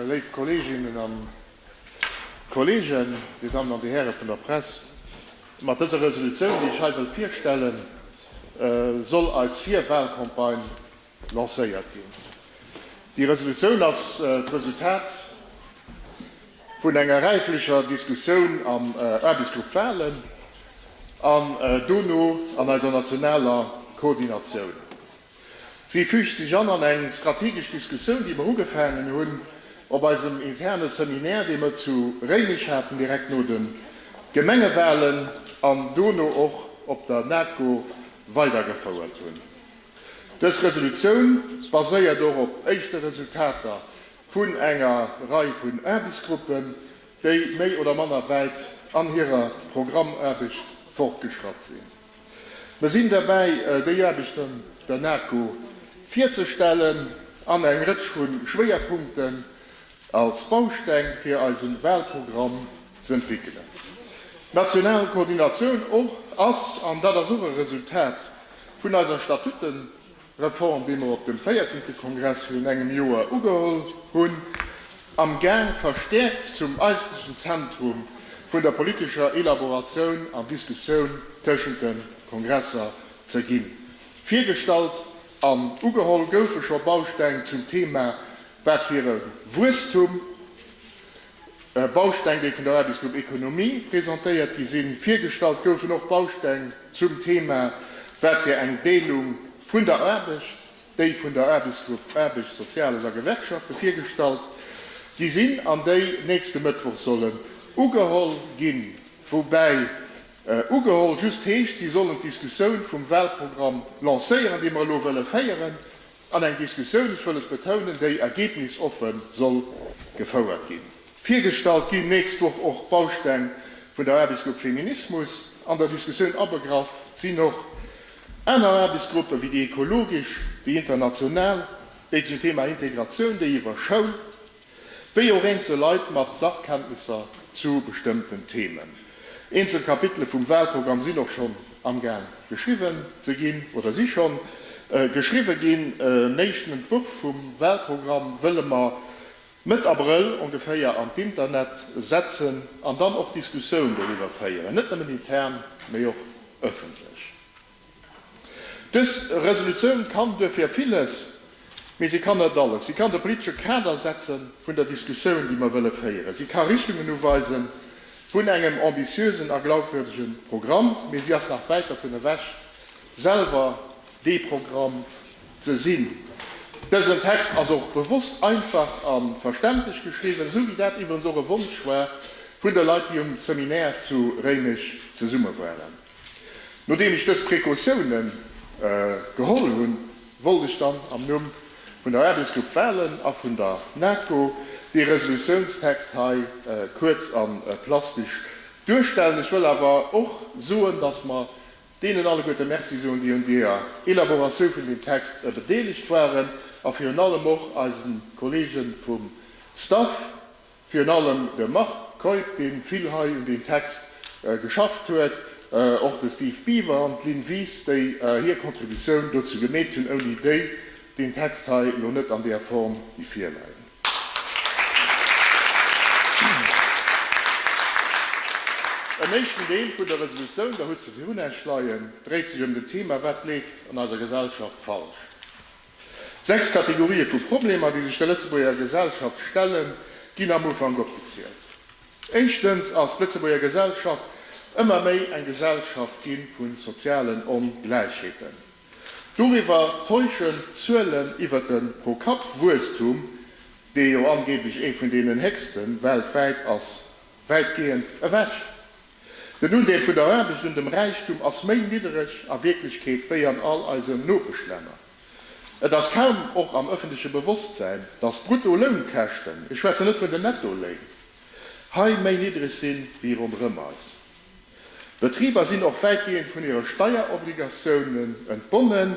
Léif Kolleeginnen a Kolleegen, Dir Dammen an Dir Häre vun der Press, mat dëser Resolutioun, déi ech hei wëll virstellen, soll eis Virwalcampagne lancéiert ginn. Déi Resolutioun ass d'Resultat vun enger räiflecher Diskussioun am Aarbechtsgrupp Walen an dono an eiser nationaler Koordinatioun. Si füügt sech an an eng strategesch Diskussioun, déi mer ugefaangen hunn op eisem interne Seminaire, dee mer zu Réimech haten, direkt no de Gemengewahlen, an dono och op der NATCO weidergefouert hunn. Dës Resolutioun baséiert och op éischte Resultater vun enger Rei vun Aarbechtsgruppen, déi méi oder manner wäit an hirer Programmaarbecht fortgeschratt sinn. Mir sinn derbäi, déi Aarbecht an der NAKO virzestellen an eng Rëtsch vu Schwéierpunkten als Bausteng fir eise Walprogramm z'entwéckelen. D'national Koordinatioun ass, an dat ass och e Resultat vun eiser Statuten, Reform, déi mer op dem véierzehnte Kongress virun engem Joer ugeholl hunn, amgaang verstäerkt zum eigentlechen Zentrum vun der politescher Elaboratioun an Diskussioun tëschent de Kongresser ze ginn. Virgestallt an ugeholl goufe scho Bausteng zum Thema Wat wier e Wuesstum? Bausteng, déi vun der Aarbechtsgrupp Ekonomie presentéiert gi sinn. Virgestallt goufen och Bausteng zum Thema, Wat fir eng Deelung vun der Aarbecht? déi vun der Aarbechtsgrupp Aarbecht, Soziales a Gewerkschafte virgestallt gi sinn an déi nächste Mëttwoch sollen ugeholl ginn. Woubäi ugeholl just heescht, si sollen d'Diskussioun vum Walprogramm lancéieren, dee mer elo wëlle féieren. An eng Diskussioun, ech wëll et betounen, déi ergebnisoffen soll gefouert ginn. Virgestallt ginn nächst Woch och d'Bausteng vun der Aarbechtsgrupp Feminismus. An der Diskussioun abegraff sinn och aner Aarbechtsgruppen, wéi déi ekologesch, déi international, déi zum Thema Integratioun, déi iwwer Schoul, Wéi och eenzel Leit mat Sachkenntnesser zu bestëmmten Themen. Eenzel Kapitele vum Wahlprogramm sinn och schonn amgaang geschriwwen ze ginn oder si schonn geschriwwe ginn. En éischten Entwurf vum Wahlprogramm wëlle mer Mëtt Abrëll ongeféier an d'Internet setzen an dann och Diskussioun doriwwer féieren, net nëmmen intern, mee och ëffentlech. Dës Resolutioun kann duerfir villes, mee si kann net alles. Si kann de politesche Kader setze vun der Diskussioun, déi mer wëlle féieren. Si ka Richtungen uweise vun engem ambitiösen a glaubwürdege Programm, mee si ass nach wäit dervun ewech, selwer dee Programm ze sinn. Dësen Text ass och bewosst einfach a verständlech geschriwwen, esou wéi dat iwwerens och e Wonsch war vun de Leit, déi um Seminaire zu Réimech zesumme waren. Nodeem ech dës Precautiounen geholl hunn, wollt ech dann am Numm vun der Aarbechtsgrupp Walen a vun der NATCO dee Resolutiounstext hei kuerz a plastesch duerstellen. Ech wëll awer och soen, dass mer deenen alleguerte Merci soen, déi un deeër Elaboratioun vun deem Text bedeelegt waren, a virun allem och eisen Kollegen vum Staff, Virun allem de Marc Keup, dee vill hei un deem Text geschafft huet, och de Steve Biver an d'Lynn Wies, déi hir Contributioun dozou gemeet hunn, ouni déi deen Text hei elo net an där Form géif virleien. En éischten Deel vun der Resolutioun, Der hutt se virun Äech leien, dréit sech ëm den Thema, Wat leeft an eiser Gesellschaft falsch? Sechs Kategorië vu Problemer, déi sech der Lëtzebuerger Gesellschaft stellen, ginn am Ufank opgezielt. Éischtens ass d'Lëtzebuerger Gesellschaft ëmmer méi eng Gesellschaft gi vu sozialen Ongläichheeten. Doriwwer täuschen d'Zuelen iwwert de Pro-Kapp-Wuesstum, dee jo angeeblech ee vun deenen héchste weltwäit ass, wäitgehend ewech. Den Undeel vun der Aarbecht un dem Räichtum ass méi niddereg a Wierklechkeet wéi an all eisen Nopeschlänner. Et ass kaum och am ëffentleche Bewosstsäin, datt d'Bruttolounkäschten, ech schwätzen net vun den Nettoléin, hei méi niddereg si wéi ronderëm eis. D'Betriber sinn och wäitgehend vun hire Steierobligatiounen entbonnen,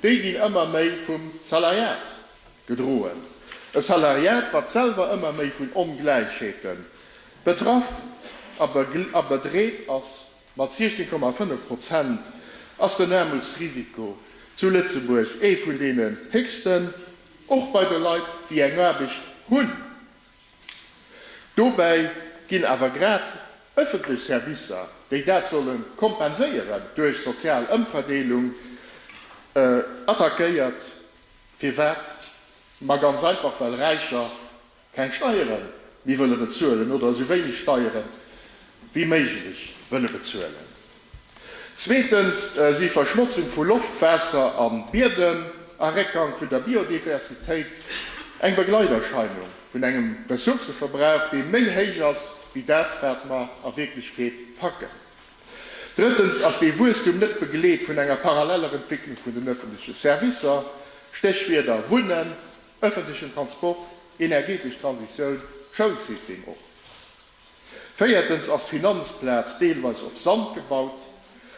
déi ginn ëmmer méi vum Salariat gedroen, e Salariat, wat selwer ëmmer méi vun Ongläichheeten Betraff a bedreet ass. Mat 16,5 Prozent ass den Aarmutsrisiko zu Lëtzebuerg ee vun deenen héchsten, och bei de Leit, déi eng Aarbecht hunn. Dobäi ginn awer grad ëffentlech Servicer, déi dat solle kompenséieren, duerch sozial Ëmverdeelung attackéiert. Firwat? Ma ganz einfach, well Räicher Keng Steieren méi wëlle bezuelen oder esou wéineg Steiere wéi méiglech wëlle bezuelen. Zweetens si Verschmotzung vu Loft, Waasser a Biedem a Réckgank vun der Biodiversitéit eng Begleiterscheinung vun engem Ressourcëverbrauch, dee méi héich ass wéi dat, wat mer a Wierklechkeet packen. Drëttens ass dee Wuesstum net begleet vun enger paralleller Entwécklung vun den ëffentleche Servicer, Stéchwierder, Wunnen, Ëffentlechen Transport, energetesch Transitioun, Schoulsystem och. Véiertens ass d'Finanzplaz deelweis op Sand gebaut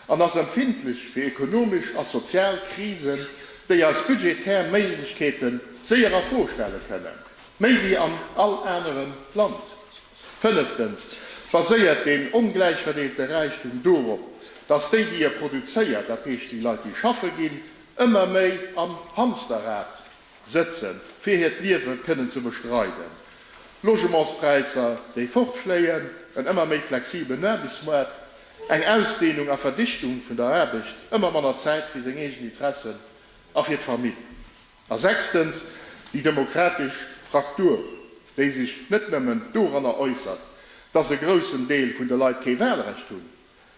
an ass empfindlech fir ekonomesch a sozial Krisen, déi eis budgetär Méiglechkeete séier a Fro stelle kënnen, méi wéi an all anerem Land. Fënneftens baséiert deen ongläichverdeelte Räichtum dorop, dass déi, déi e produzéiert, dat heescht déi Leit, déi schaffe ginn, ëmmer méi am Hamsterrad Sëtzen, fir hiert Liewe kënnen ze bestreiden, Logementspräisser, déi fortfléien, en ëmmer méi flexibelen Aarbechtsmoart, eng Ausdeenung a Verdichtung vun der Aarbecht, ëmmer manner Zäit fir seng eegen Interessen a fir d'Famill. A sechstens, déi demokratesch Fraktur, déi sech net nëmmen doranner äussert, dass e groussen Deel vun de Leit kee Walrecht hunn,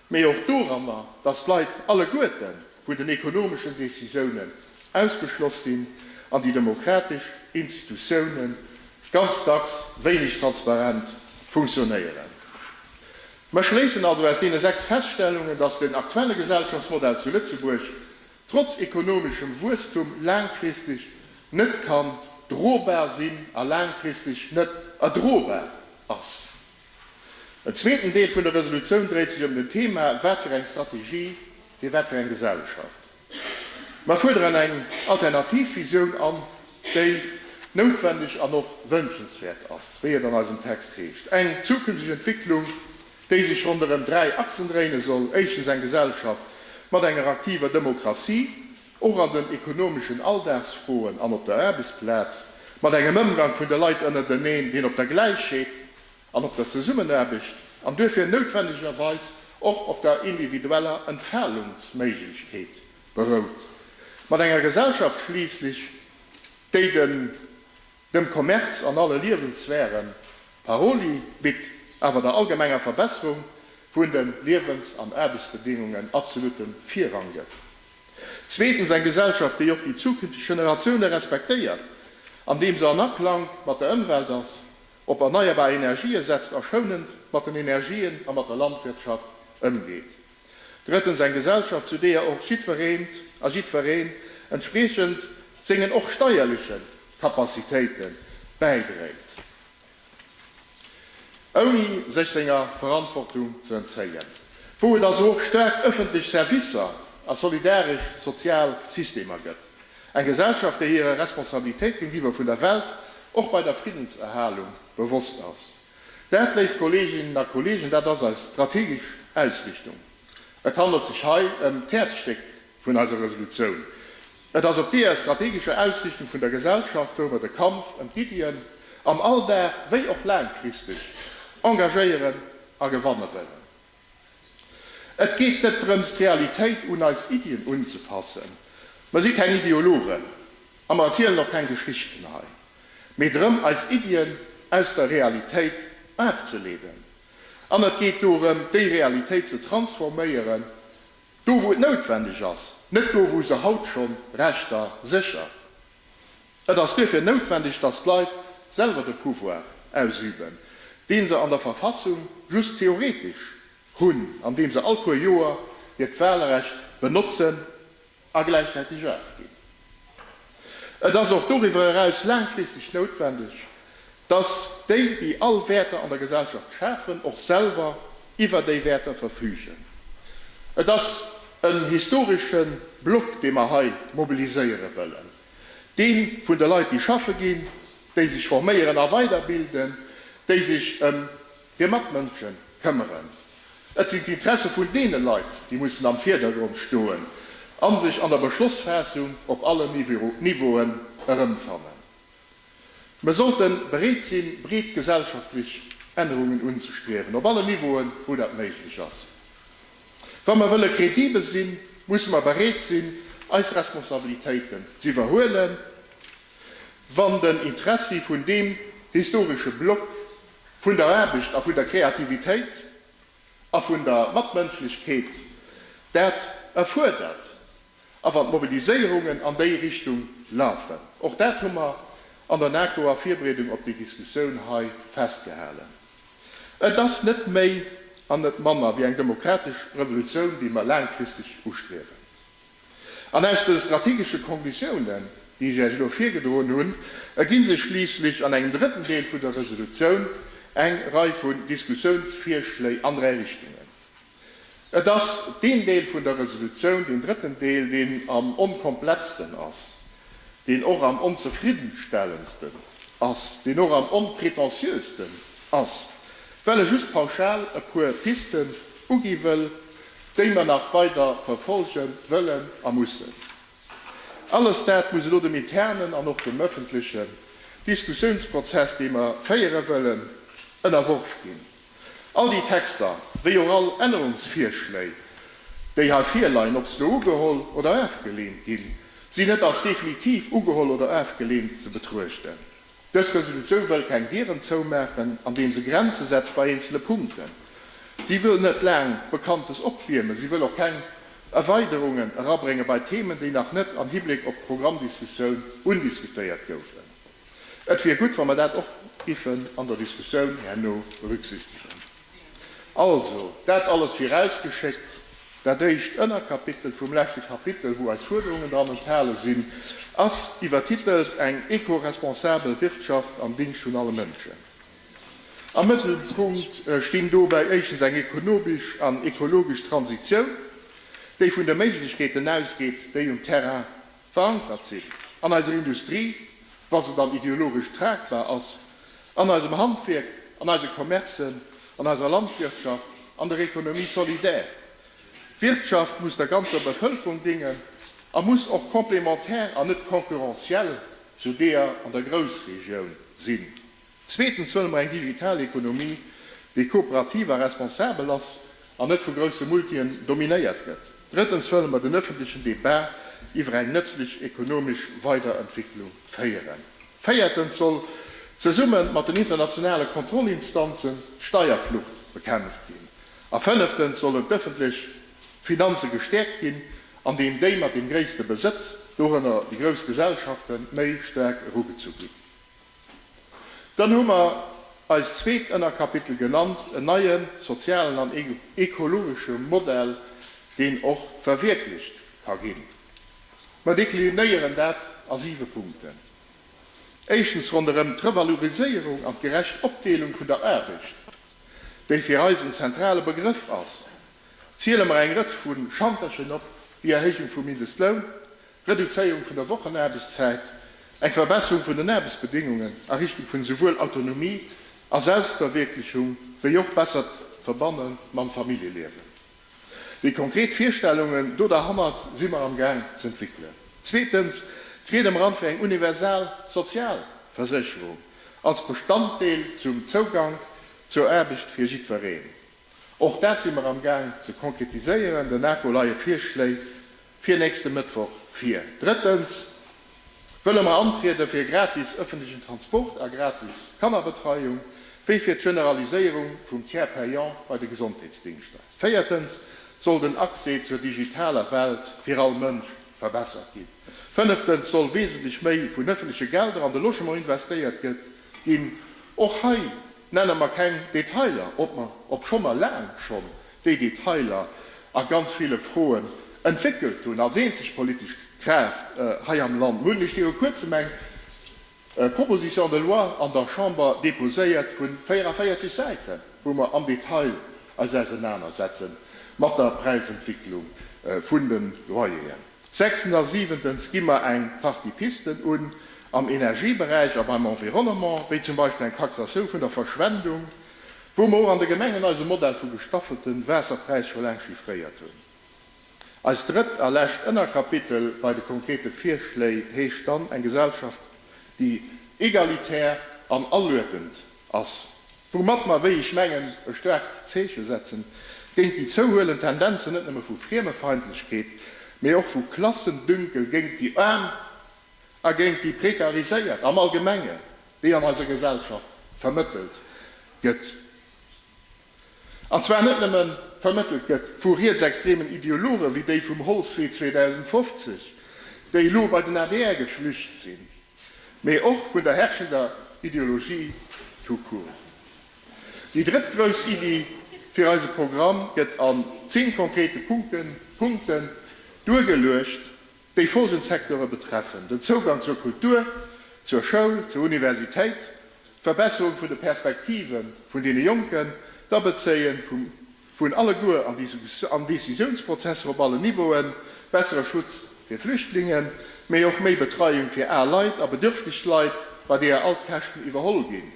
mee och doranner, dass d'Leit alleguerten vu den ekonomeschen Decisiounen ausgeschloss sinn an déi demokratesch Institutiounen ganz dacks wéineg transparent funktionéieren. Mer schléissen also aus deene sechs Feststellungen, dass den aktuelle Gesellschaftsmodell zu Lëtzebuerg trotz ekonomeschem Wuesstum laangfristeg net kann drobar sinn a laangfristeg net erdrobar ass. En zweeten Deel vun der Resolutioun dréit sech ëm den Thema, Wat fir eng Strategie fir wat fir eng Gesellschaft? Mer fuerderen eng alternativ Visioun an, déi noutwendeg an och wënschenswäert ass, wéi et an eisem Text heescht, eng zukünfteg Entwicklung, déi sech ronderëm dräi Achsen dréine soll, éischtens eng Gesellschaft mat enger aktiver Demokratie, Och an den ekonomeschen Alldagsfroen an op der Aarbechtsplaz, mat engem Ëmgang vun de Leit ënnerteneen, deen op der Gläichheet an op der Zesummenaarbecht an duerfir noutwennegerweis och op der individueller Entfalungsméiglechkeet berout, mat enger Gesellschaft schliisslech, déi den dem Kommerz an alle Liewenssphären Paroli bitt, awer der allgemenger Verbesserung vun de Liewens an Aarbechtsbedingungen absolutten Virrang gëtt. Zweetens eng Gesellschaft, déi och déi zukünfteg Generatioune respektéiert, andeem se an Aklank mat der Ëmwelt ass, op erneierbar Energië setzt a schounend mat den Energien a mat der Landwirtschaft ëmgeet. Drëttens eng Gesellschaft, zu deeër och jiddwereent a jiddwereen entspriechend sengen och steierleche Capacitéite bäidréit. ouni sech senger Verantwortung ze entzéien, wou et also och staark ëffentlech Servicer a solidaresch sozial Systemer gëtt, eng Gesellschaft, déi hirer Responsabilitéit géintiwwer vun der Welt, och bei der Friddenserhalung, bewosst ass. Dat, léif Kolleeginnen a Kolleegen, dat ass eis strategesch Ausrichtung. Et handelt sech hei ëm d'Häerzstéck vun eiser Resolutioun, Et ass op deeër strategescher Ausrichtung vun der Gesellschaft, wou mer de Kampf ëm d'Iddien am Alldag wéi och laangfristeg engagéieren a gewanne wëllen. Et geet net drëms, d'Realitéit un eis Iddien unzepassen, mer si keng Ideologen a mer erzielen och keng Geschichten hei, mee drëm, eis Iddien aus der Realitéit afzeleeden. An et geet dorëm, déi Realitéit ze transforméieren Do wou et noutwendeg ass, net do wou se haut schonn Rechter séchert. Et ass duerfir noutwendeg, datt d'Leit selwer de Pouvoir ausüben, deen se an der Verfassung just theoretesch hunn, andeem se all puer Joer hiert Wahlrecht benotzen a gläichzäiteg afginn. Et ass och doriwwer eraus laangfristeg noutwendeg, dass déi, déi all Wäerter an der Gesellschaft schafen, och selwer iwwer déi Wäerter verfügen. Et ass en historesche Block, dee mer hei mobiliséiere wëllen, dee vun de Leit, déi schaffe ginn, déi sech forméieren a weiderbilden, déi sech ëm Hir Matmënsche këmmeren. Et sinn d'Interesse vun deene Leit, déi mussen am Virdergrond stoen a sech an der Beschlossfaassung op allen Niveauen erëmfannen. Mer sollte bereet sinn, breet gesellschaftlech Ännerungen unzestriewen, op allen Niveauen, wou dat méiglech ass. Wa mer wëlle kredibel sinn, musse mer bereet sinn, eis Responsabilitéiten z'iwwerhuelen, wann den Interessi vun deem historesche Block vun der Aarbecht a vun der Kreativitéit a vun der Matmënschlechkeet, dat erfuerdert a wann d'Mobiliséierungen an déi Richtung lafen, och dat hu mer an der NAKO a Virbereedung op déi Diskussioun hei festgehalen, et ass net méi an net manner wéi eng demokratesch Revolutioun, déi mer laangfristeg ustriewen. An aus de strategesche Konklusiounen, déi ech Iech elo virgedroen hunn, erginn sech schliisslech an engem drëtten Deel vun der Resolutioun eng Rei vun Diskussiounsvirschléi an dräi Richtungen. Et ass deen Deel vun der Resolutioun, deen drëtten Deel, deen am onkomplettsten ass, deen och am onzefriddenstellendsten ass, deen och am onpretentieuxsten ass, well e just pauschal e puer Pisten ugi wëll, déi mer nach weider verfolge wëllen a mussen. Alles dat muss elo dem internen an och dem ëffentlechen Diskussiounsprozess, dee mer féiere wëllen, ënnerworf ginn. All déi Texter, wéi och all Ännerungsvirschléi, déi hei virleien, ob se elo ugeholl oder afgeleent ginn, sinn net als definitiv ugeholl oder afgeleent ze betruechten. Dës Resolutioun wëll keng Dieren zoumaachen, andeem se Grenze setzt bei eenzele Punkten. Si wëll net laang Bekanntes opwiermen. Si wëll och keng Erweiderungen erabrénge bei Themen, déi nach net am Hibléck op d'Programmdiskussioun undiskutéiert goufen. Et wier gutt, wa mer dat och giffen an der Diskussioun herno berücksichtegen. Also, dat alles virausgeschéckt. Dat éischt Ënnerkapitel vum leschte Kapitel, wou eis Fuerderungen dran enthale sinn, ass iwwertitelt Eng eco-responsabel Wirtschaft am Dingscht vun alle Mënschen. Am Mëttelpunkt stinn dobäi éischtens eng ekonomesch an ekologesch Transitioun, déi vun de Méiglechkeeten ausgeet, déi um Terrain verankert sinn an eiser Industrie, wa se dann ideologesch tragbar ass, an eisem Handwierk, an eise Commercen, an eiser Landwirtschaft, an der Économie solidaire. D'Wirtschaft muss der ganzer Bevëlkerung dingen a muss och complémentaire an net concurrentiel zu deeër an der Groussregioun sinn. Zweetens wëlle mer eng digital Ekonomie, déi kooperativ a responsabel ass an net vu grousse Multien dominéiert gëtt. Drëttens wëlle mer den ëffentlechen Debat iwwer eng nëtzlech ekonomesch Weiderentwicklung féieren. Véiertens soll zesumme mat den internationale Kontrollinstanzen d'Steierflucht bekämpft ginn. A fënneftens sollen d'ëffentlech Finanze gestäerkt ginn, andeem déi mat deem gréisste Besëtz, dorënner déi grouss Gesellschaften, méi staark erugezu ginn. Dann hu mer eist zweet Ënnerkapitel genannt, en neie sozialen an ekologesche Modell, deen och verwierklecht ka ginn. Mer deklinéieren dat a siwe Punkten. Éischtens ronderëm d'Revaloriséierung an d'gerecht Opdeelung vun der Aarbecht, déi fir eis en zentrale Begrëff ass, ziele mer eng Rëtsch vu Chanterchen op, déi Erhéijung vum Mindestloun, Reduzéierung vun der Wochenaarbechtszäit, eng Verbesserung vun den Aarbechtsbedéngungen a Richtung vun esouwuel Autonomie a Selbstverwierklechung wéi och bessert Verbanne mam Familljeliewen. Déi konkret Virstellungen do derhannert si mer am Gaang z'entwéckelen. Zweetens, d'Ried am Rand fir eng universal Sozialversécherung als Bestanddeel zum Zougank zur Aarbecht fir jiddwereen. Och dat si mer am Gaang ze konkretiséieren. Der NAKO leie Virschléi fir nächste Mëttwoch vir. Drëttens wëlle mer antriede fir gratis ëffentlechen Transport a gratis Kannerbetreiung, wéi fir d'Generaliséierung vum Tiers payant bei de Gesondheetsdingschter. Véiertens soll den Accès zur digitaler Welt fir all Mënsch verbessert ginn. Fënneftens soll wesentlech méi vun ëffentleche Gelder an de Logement investéiert ginn. Och hei Nenne mer keng Detailer, obscho mer laang schonn déi Detailer a ganz ville Froen entwéckelt hunn als eenzeg politesch Kraaft hei am Land. Mir hunn nämlech viru Kuerzem eng Proposition de loi an der Chamber deposéiert vu 44 Säiten, wou mer am Detail eis ausenanersetzen mat der Präisentwicklung vun de Loyeren. Sechstens a siwentens gi mer eng Partie Pisten un am Energieberäich a beim Environnement, wéi zum Beispill eng Taxatioun vun der Verschwendung, wou mer och an de Gemengen eise Modell vu gestaffelte Waasserpräis scho laang chiffréiert hunn. Eist drëtt a lescht Ënnerkapitel bei de konkrete Virschléi heescht dann, eng Gesellschaft, déi egalitär an aluedend ass. woumat mer, wéi ech mengen, e staarkt Zeeche setzen, géint déi zouhuelend Tendenzen net nëmme vu Friemefeindlechkeet, mee och vu Klassendünkel géint déi Aarm a géint déi Prekariséiert am Allgemengen, déi an eiser Gesellschaft vermëttelt gëtt. An zwar net nëmme vermëttelt gëtt vu rietsextremen Ideologe wéi déi vum Holzwee 2050, déi elo bei den adr geflücht sinn, mee och vun der herrschender Ideologie tout court. Déi drëtt grouss Iddi fir eise Programm gëtt an zéng konkrete Punkten, Punkten, duergeluecht, déi folgend Secteure betreffen, den Zougang zur Kultur, zur Schoul, zur Universitéit, d'Verbesserung vun de Perspektive vun deene Jonken, d'Abezéie vum Vun alleguer an Decisiounsprozesser op allen Niveauen, bessere Schutz fir Flüchtlingen, mee och méi Betreiung fir al Leit a bedürfteg Leit, bei deeër all d'Käschten iwwerholl ginn,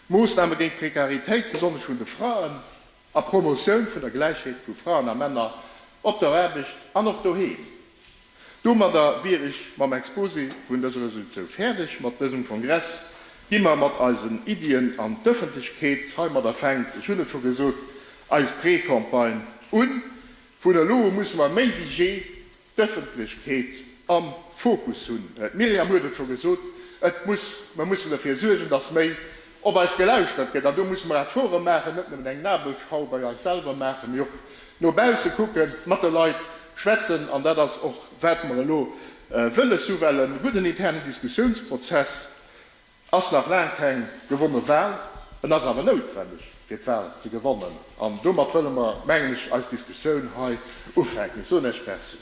Moossname géint d'Prekaritéit, besonnesch vun de Fraen, a Promotioun vun der Gläichheet vu Fraen a Männer op der Aarbecht an och doheem. Domadder wier ech mam Exposé vun dëser Resolutioun fäerdeg. Mat dësem Kongress gi mer mat eisen Iddien an d'Ëffentlechkeet. Heimadder fänkt, ech hunn et scho gesot, eis Precampagne un. Vun elo u musse mer méi wéi jee d'Ëffentlechkeet am Fokus hunn. D'Myriam huet et scho gesot, et muss, mer mussen derfir suergen, dass méi op eis gelauschtert gëtt, an do musse mer Efforte maachen, net nëmmen eng Nabelschrauw bei eis selwer maachen, mee och no bausse kucken, mat de Leit schwätzen, an dat ass och wat mer elo wëlles hu wellen. E gudden internen Diskussiounsprozess ass nach laang keng gewonne Wahl, en ass awer noutwenneg fir d'Wahl ze gewannen, an domat wëlle mer, mengen ech, eis Diskussioun hei ufänken. Ech soen Iech Merci.